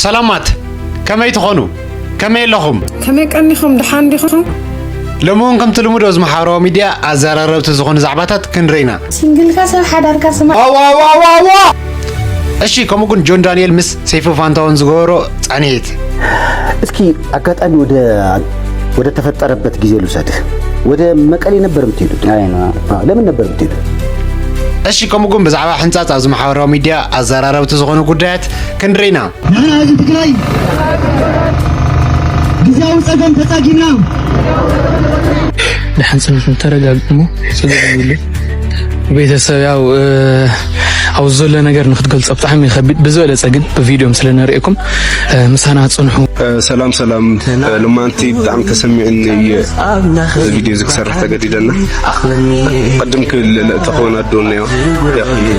ሰላማት ከመይ ትኾኑ? ከመይ ኣለኹም? ከመይ ቀኒኹም? ደሓን ዲኹም? ሎሚ እውን ከምቲ ልሙድ ኣብዚ ማሕበራዊ ሚድያ ኣዘራረብቲ ዝኾኑ ዛዕባታት ክንርኢ ኢና ስንግልካ ሰብ ሓዳርካ ስማ ዋዋዋዋዋ እሺ ከምኡ ግን ጆን ዳንኤል ምስ ሰይፈ ፋንታውን ዝገበሮ ፃንሒት እስኪ ኣጋጣሚ ወደ ወደ ተፈጠረበት ጊዜ ልውሰድህ። ወደ መቀሌ ነበር የምትሄዱት? ለምን ነበር የምትሄዱት? እሺ ከምኡ ግን ብዛዕባ ሕንፃፅ ኣብዚ ማሕበራዊ ሚዲያ ኣዘራረብቲ ዝኾኑ ጉዳያት ክንድሪና ንሕና ህዝቢ ትግራይ ግዜያዊ ፀገም ተፃጊምና ንሓንፅነት ተረጋግሞ ፀገም ይብሉ ቤተሰብ ያው ኣብ ዘሎ ነገር ንክትገልጾ ብጣዕሚ ከቢድ ብዝበለጸ ግን ብቪድዮም ስለ ንርእየኩም ምሳና ጽንሑ። ሰላም ሰላም፣ ልማንቲ ብጣዕሚ ተሰሚዕኒ እየ ቪድዮ እዚ ክሰርሕ ተገዲደና ቅድም ክብል ተኸወን ኣዶና እዮ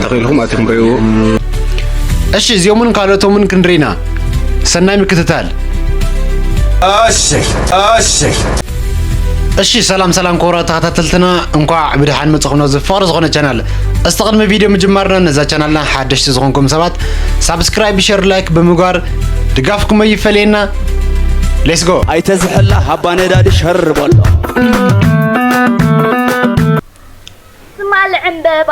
ተኽኢልኩም ኣትኹም ረእዎ። እሺ እዚኦምን ካልኦቶምን ክንሪና ሰናይ ምክትታል። እሺ እሺ እሺ ሰላም ሰላም ክቡራት ተኸታተልትና እንኳዕ ብድሓን መጽኹም ነዚ ፍቕሪ ዝኾነ ቻናል እስቲ ቅድሚ ቪድዮ ምጅማርና ነዛ ቻናልና ሓደሽቲ ዝኾንኩም ሰባት ሳብስክራይብ ሸር ላይክ ብምግባር ድጋፍኩም ኣይፈለየና ሌትስ ጎ ኣይተዝሐላ ሃባ ነዳዲ ሸር በሎ ስማል ዕምበባ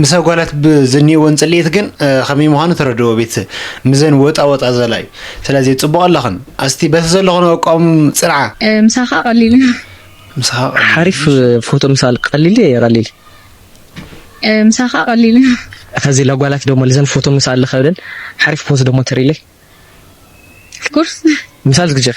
ምስ ኣጓላት ብዝኒወን ጽልኢት ግን ከመይ ምዃኑ ተረድዎ ቤተሰብ ምዘን ወጣ ወጣ ዘላ እዩ ስለዚ ጽቡቅ ኣለኽን ኣስቲ በቲ ዘለኽኖ ኣቋም ጽንዓ ምሳኻ ቀሊል እዩ ምሳኻ ቀሊል ሓሪፍ ፎቶ ምሳል ቀሊል እዩ ቀሊል ምሳኻ ቀሊል እዩ ከዚ ለጓላት ደሞ ልዘን ፎቶ ምሳል ልኸብደን ሓሪፍ ፎቶ ደሞ ተሪለይ ኩርስ ምሳል ዝግጀር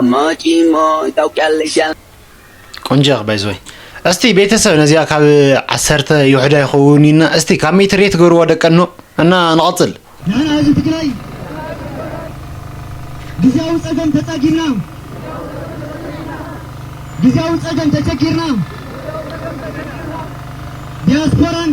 ኣማጪሞ ታውቂያለሽ ኣላ። ቆንጆ ኢኺ ባይዘወይ እስቲ ቤተሰብ ነዚኣ ካብ ዓሰርተ ይውሕዳ ይኸውን እዩና እስቲ ካብ ሚእቲ ሬት ገሩዋ ደቀኖ እና ንቐጽል ንሕና ህዝቢ ትግራይ ግዝያዊ ፀገም ተፃጊምና ግዝያዊ ፀገም ተቸጊርና ዲያስፖራን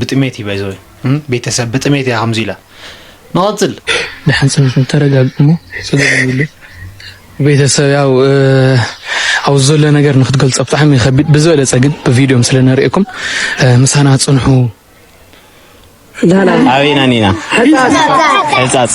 ብጥሜት እዩ ባይዘወይ እም ቤተሰብ ብጥሜት እያ ከምዚ ኢላ ንቐጽል ንሕንጽነትን ተረጋግእ እሞ ጽገብ ቤተሰብ ያው ኣብ ዘሎ ነገር ንክትገልጾ ብጣዕሚ ከቢድ ብዝበለጸ ግን ብቪድዮም ስለ ነርእየኩም ምሳና ጽንሑ ኣበይና ኒና ሕጻጽ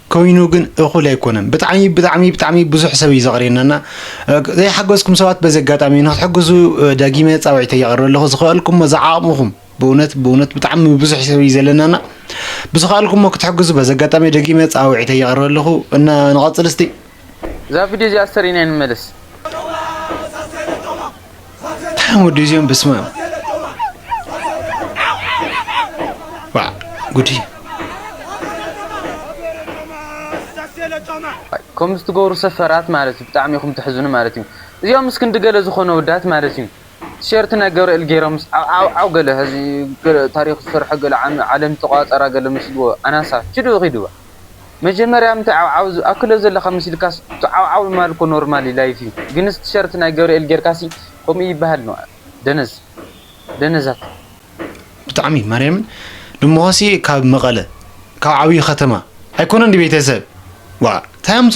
ኮይኑ ግን እኹል ኣይኮነን ብጣዕሚ ብጣዕሚ ብጣዕሚ ብዙሕ ሰብ እዩ ዘቕርየናና ዘይሓገዝኩም ሰባት በዚ ኣጋጣሚ ንክትሕግዙ ደጊመ ፃውዒተ የቕርበ ኣለኹ ዝኸእልኩሞ ዝዓቕምኹም ብእውነት ብእውነት ብጣዕሚ ብዙሕ ሰብ እዩ ዘለናና ብዝኸእልኩሞ ክትሕግዙ በዚ ኣጋጣሚ ደጊመ ፃውዒተ የቕርበ ኣለኹ እና ንቐፅል እስቲ እዛ ቪድዮ እዚኣ ዝተርኢና ንመለስ። ታም ወዲ እዚኦም በስመ ኣብ ዋዕ ጉድ እዩ። ከምዚ ትገብሩ ሰፈራት ማለት እዩ ብጣዕሚ ኢኹም ተሕዝኑ ማለት እዩ እዚኦም ምስ ክንዲ ገለ ዝኾኑ ኣወዳት ማለት እዩ። ቲሸርት ናይ ገብርኤል ጌሮምስ ዓውዓውዓው ገለ ሀዚ ገለ ታሪኽ ዝሰርሖ ገለ ዓለም ዝተቆጻጸራ ገለ መስልዎ ኣናሳ ችዱ ኺዱባ መጀመርያ ምንታይ ዓውዓው ዝኣክሎ ዘለካ መሲልካስ ትዓውዓው ምባል እኮ ኖርማሊ ላይፍ እዩ ግንስ ቲሸርት ናይ ገብርኤል ጌርካሲ ከምኡ ይብሃል ንውዓል ደነዝ ደነዛት ብጣዕሚ ማርያምን ድሞካሲ ካብ መቀለ ካብ ዓብይ ከተማ ኣይኮነን ድዩ ቤተሰብ ዋእ ታይ ኣምፆ።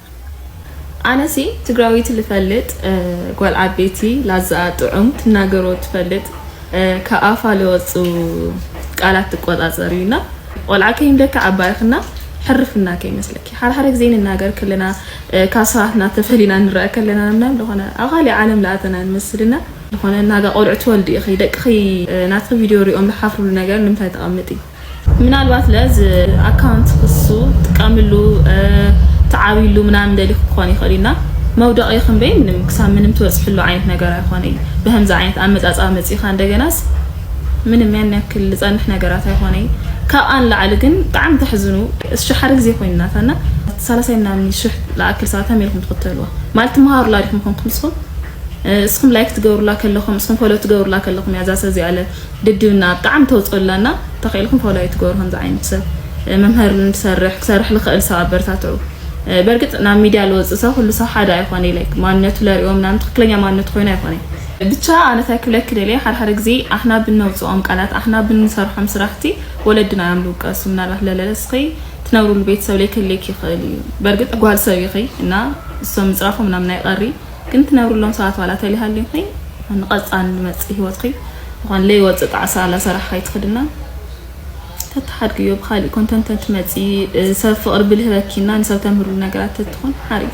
ኣነሲ ትግራዊት ልፈልጥ ጓል ዓበይቲ ላዛኣ ጥዑም ትናገሮ ትፈልጥ ካብ ኣፋ ለወፁ ቃላት ትቆፃፀር እዩ እና ቆልዓ ከይንደካ ዓባይክና ሕርፍና ከይመስለኪ ሓደሓደ ግዜ ንናገር ከለና ካብ ሰባትና ተፈሊና ንረአ ከለና ምናም ዝኾነ ኣብ ካሊእ ዓለም ለኣተና ንመስልና ዝኾነ ናጋ ቆልዑ ትወልዲ ኢኺ ደቅኺ ናትኺ ቪድዮ ሪኦም ዝሓፍሩሉ ነገር ንምንታይ ተቐምጢ ምናልባት ለ ኣካውንት ክሱ ጥቀምሉ ተዓብሉ ምናምን ደሊ ክኾን ይኽእል እና መውደቂ ክንበይ ምንም ክሳብ ምንም ትበፅሕሉ ዓይነት ነገር ኣይኾነ እዩ ብከምዚ ዓይነት ኣመፃፃ መፂኻ እንደገናስ ምንም ያን ያክል ዝፀንሕ ነገራት ኣይኾነ እዩ ካብኣ ንላዕሊ ግን ብጣዕሚ ተሕዝኑ እሺ ሓደ ግዜ ኮይንናታ እና ሳላሳይ ምናምን ሽሕ ለኣክል ሰባት ከመይ ኢልኩም ትኽተልዋ ማለት ትምሃሩላ ዲኹም ኮንኩም ንስኹም እስኹም ላይክ ትገብሩላ ከለኹም እስኹም ፎሎ ትገብሩላ ከለኹም እያ እዛ ሰብ እዚኣ ድድብና ብጣዕሚ ተውጽኦ ኣላ እና ተኺእልኩም ፎሎ ኣይትገብሩ ከምዚ ዓይነት ሰብ መምህር ንሰርሕ ክሰርሕ ልኽእል ሰብ ኣበርታትዑ በርግጽ ናብ ሚድያ ልወጽእ ሰብ ኩሉ ሰብ ሓደ ኣይኾነ ኢለ ማንነቱ ለሪኦ ምናምን ትክክለኛ ማንነቱ ኮይኑ ኣይኮነ ብቻ ኣነ ታይ ክብለኪ ደልየ ሓደ ሓደ ግዜ ኣሕና ብነውጽኦም ቃላት ኣሕና ብንሰርሖም ስራሕቲ ወለድና እዮም ልውቀሱ ምናልባት ለለለ እስኺ ትነብርሉ ቤተሰብ ለይክህልየኪ ይኽእል እዩ በርግጽ ጓል ሰብ ኢኺ እና እሶም ምጽራፎም ምናምን ኣይቀሪ ግን ትነብርሎም ሰባት ዋላ ተሊሃልዩኺ ንቀፃን ንመፅእ ሂወትኺ ዝኾን ለይወፅእ ጣዕሳ ኣላሰራሕኺ ኣይትኽድና ተተሓድግዮ ብኻሊእ ኮንተንት ተትመፂ ሰብ ፍቅሪ ብልህ ረኪና ንሰብ ተምህርሉ ነገራት ተትኾን ሓሪፍ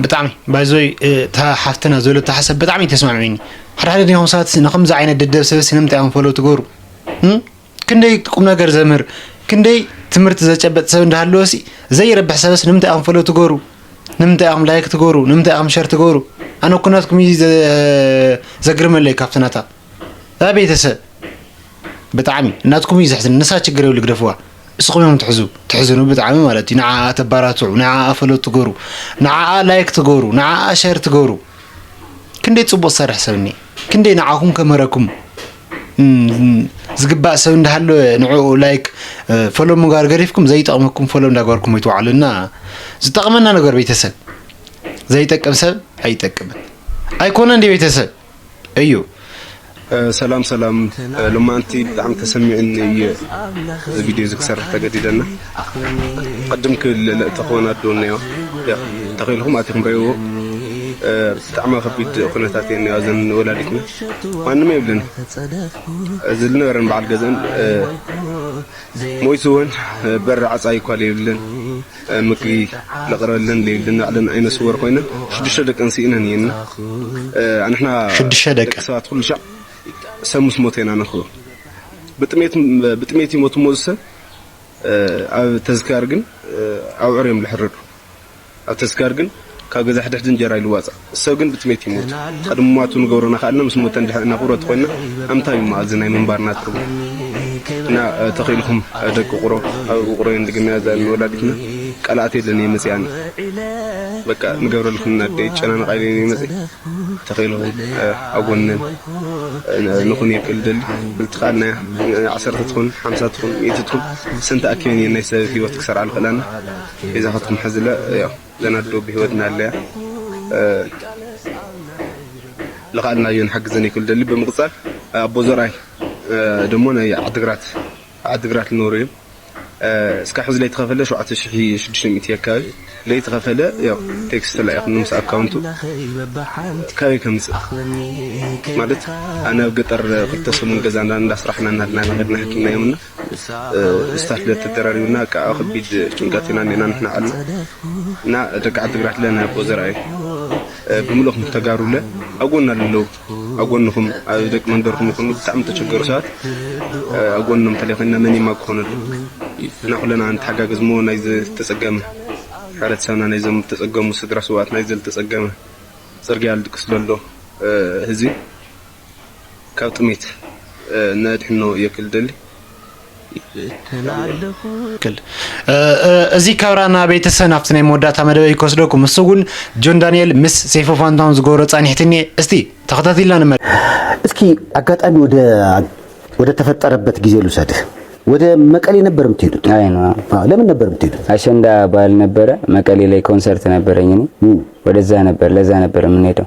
ብጣዕሚ ባይዞይ እታ ሓፍትና ዘለቶ ሓሳብ ብጣዕሚ ተስማዕሚኒ ሓደ ሓደ ዲኹም ሰባት ንከምዚ ዓይነት ደደብ ሰበስ ንምንታይ እዮም ፈለው ትገብሩ ክንደይ ቁምነገር ዘምህር ክንደይ ትምህርቲ ዘጨበጥ ሰብ እንዳሃለወሲ ዘይረብሕ ሰበስ ንምንታይ ኢኹም ፈሎ ትገሩ ንምንታይ ኢኹም ላይክ ትገሩ ንምንታይ ኢኹም ሸር ትገሩ ኣነ እኮ ናትኩም እዩ ዘግርመለይ ካብቲ ናታ ያ ቤተሰብ ብጣዕሚ ናትኩም እዩ ዘሕዝን ንሳ ችግር የብሉ ግደፍዋ እስኹም እዮም ትሕዙ ትሕዝኑ ብጣዕሚ ማለት እዩ ንዓኣ ተባራትዑ ንዓኣ ፈለጥ ትገሩ ንዓኣ ላይክ ትገሩ ንዓኣ ሸር ትገሩ ክንደይ ፅቡቅ ዝሰርሕ ሰብ እኒ ክንደይ ንዓኹም ከምህረኩም ዝግባእ ሰብ እንዳሃለወ ንዕኡ ላይክ ፎሎ ምግባር ገሪፍኩም ዘይጠቕመኩም ፎሎ እንዳገበርኩም ይትውዓሉ እና ዝጠቕመና ነገር ቤተሰብ ዘይጠቅም ሰብ ኣይጠቅምን ኣይኮነ እንዲ ቤተሰብ እዩ ሰላም ሰላም ሎማንቲ ብጣዕሚ ተሰሚዕኒ እየ እዚ ቪድዮ እዚ ክሰርሕ ተገዲደና ቅድም ክብል እተኸወን ኣዶ እነዮ ተኺኢልኹም ኣቲኹም ርእይዎ ብጣዕሚ ከቢድ ኩነታት እየን እነዮ እዘን ወላዲትና ማንም የብለን እዚ ዝነበረን በዓል ገዝአን ሞይቱ እውን በሪ ዓፃ እኳ ለይብለን ምግቢ ለቕረበለን ለይብለን ባዕለን ዓይነ ስወር ኮይነን ሽዱሽተ ደቀን ስኢነን እየን እና ኣንሕና ሽዱሽተ ደቂ ደቂ ሰባት ኩሉ ሻዕ ሰብ ምስ ሞተ ኢና ነኽብሮ ብጥሜት ብጥሜት ይሞት እሞ እዚ ሰብ ኣብ ተዝካር ግን ኣብዑር እዮም ልሕረዱ ኣብ ተዝካር ግን ካብ ገዛ ሕድሕድ እንጀራ ይልዋጻ ሰብ ግን ብጥሜት ይሞቱ ቐድሚ ምሟቱ ንገብሮ ናክኣልና ምስ ሞተ እንድሕር እናቁረ ተኮይና ኣምንታይ እዩ እሞ ኣዚ ናይ ምንባርና ትርጉም እና ተኪኢልኩም ደቂ ቁሮ ኣብ ውቅሮ እየን ድግምያ እዛ ንወላዲትና ቃላት የለን እየ መጺኣ ኣነ በቃ ንገብረልክን እና ኣደይ ይጨናነቃ ኢለ እየ መጺ ተኺኢሉ ኣብ ጎኒ ንኹን የክል ደሊ ንቲ ከኣና ዓሰርተ ትኹን ሓምሳ ትኹን ሚእቲ ትኹን ሰን ተኣኪበን እየን ናይ ሰብ ሂወት ክሰርዓ ልኽእላና ቤዛኻትኩም ሕዝለ ያው ዘን ኣዶ ብሂወት ናለያ ልኽኣልና እዮን ሓግዘን የክል ደሊ ብምቕጻል ኣቦ ዘርኣይ ደሞ ናይ ዓድግራት ዓድግራት ልነብሩ እዮም እስካብ ሕዚ ለይተከፈለ ሸውዓተ ሽሕ ሽዱሽተ ሚእቲ ኣካባቢ ለይተከፈለ ያው ቴክስት ተላኢክኒ ምስ ኣካውንቱ ካበይ ከምፅእ ማለት ኣነ ኣብ ገጠር ክልተ ሰሙን ገዛ እንዳስራሕና ናሃድና ኢና ከድና ሃኪምናዮም እና ምስታ ስለ ተደራሪቡና እቃ ኣብ ከቢድ ጭንቀት ኢና እኒኤና ንሕና ዓልና እና ደቂ ዓድግራት ለና ኣቦ ዘርኣይ ብምልእኩም ተጋሩለ ኣብ ጎና ለለው ኣብ ጎንኹም ኣብ ደቂ መንደርኩም ይኹኑ ብጣዕሚ ተቸገሩ ሰባት ኣብ ጎኖም እንተለይ ኮይና መን ይማ ክኾነሉ እና ኩለና ንተሓጋገዝ እሞ ናይ ዝተጸገመ ሕብረተሰብና ናይዞም ዝተጸገሙ ስድራ ስውኣት ናይ ዝተጸገመ ጽርግያ ልድቅስ ዘሎ ህዝቢ ካብ ጥሜት ነድሕኖ እየ ክል ደሊ ይፍትን ኣለኹ። ትክክል እዚ ካብራ ናበይተሰ ናብቲ ናይ መወዳእታ መደበይ ክወስደኩም ምስ እውን ጆን ዳንኤል ምስ ሰይፈ ፋንታውን ዝገብሮ ጻኒሕቲ እኒኤ እስቲ ተኸታቲልና ንመ እስኪ አጋጣሚ ወደ ወደ ተፈጠረበት ጊዜ ልውሰድህ። ወደ መቀሌ ነበር የምትሄዱት? አይ ነው አዎ፣ ለምን ነበር የምትሄዱት? አሸንዳ በዓል ነበረ መቀሌ ላይ ኮንሰርት ነበረኝ እኔ እም፣ ወደዛ ነበር ለዛ ነበር የምንሄደው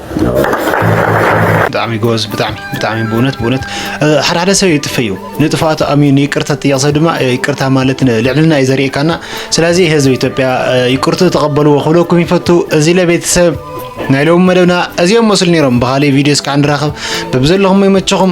ብጣዕሚ ጎበዝ ብጣዕሚ ብጣዕሚ ብእውነት ብእውነት ሓደ ሓደ ሰብ ይጥፈ እዩ ንጥፋቱ ኣምዩ ንይቅርታ ትጥየቕ ሰብ ድማ ይቅርታ ማለት ልዕልና እዩ ዘርእካና ስለዚ ህዝቢ ኢትዮጵያ ይቅርቱ ተቐበልዎ ክብለኩም ይፈቱ እዚ ለቤተሰብ ናይ ሎሚ መደብና እዚኦም መስሉ ነይሮም ብካሊእ ቪድዮ እስካዕ ንራኸብ በብዘለኹም ይመቸኹም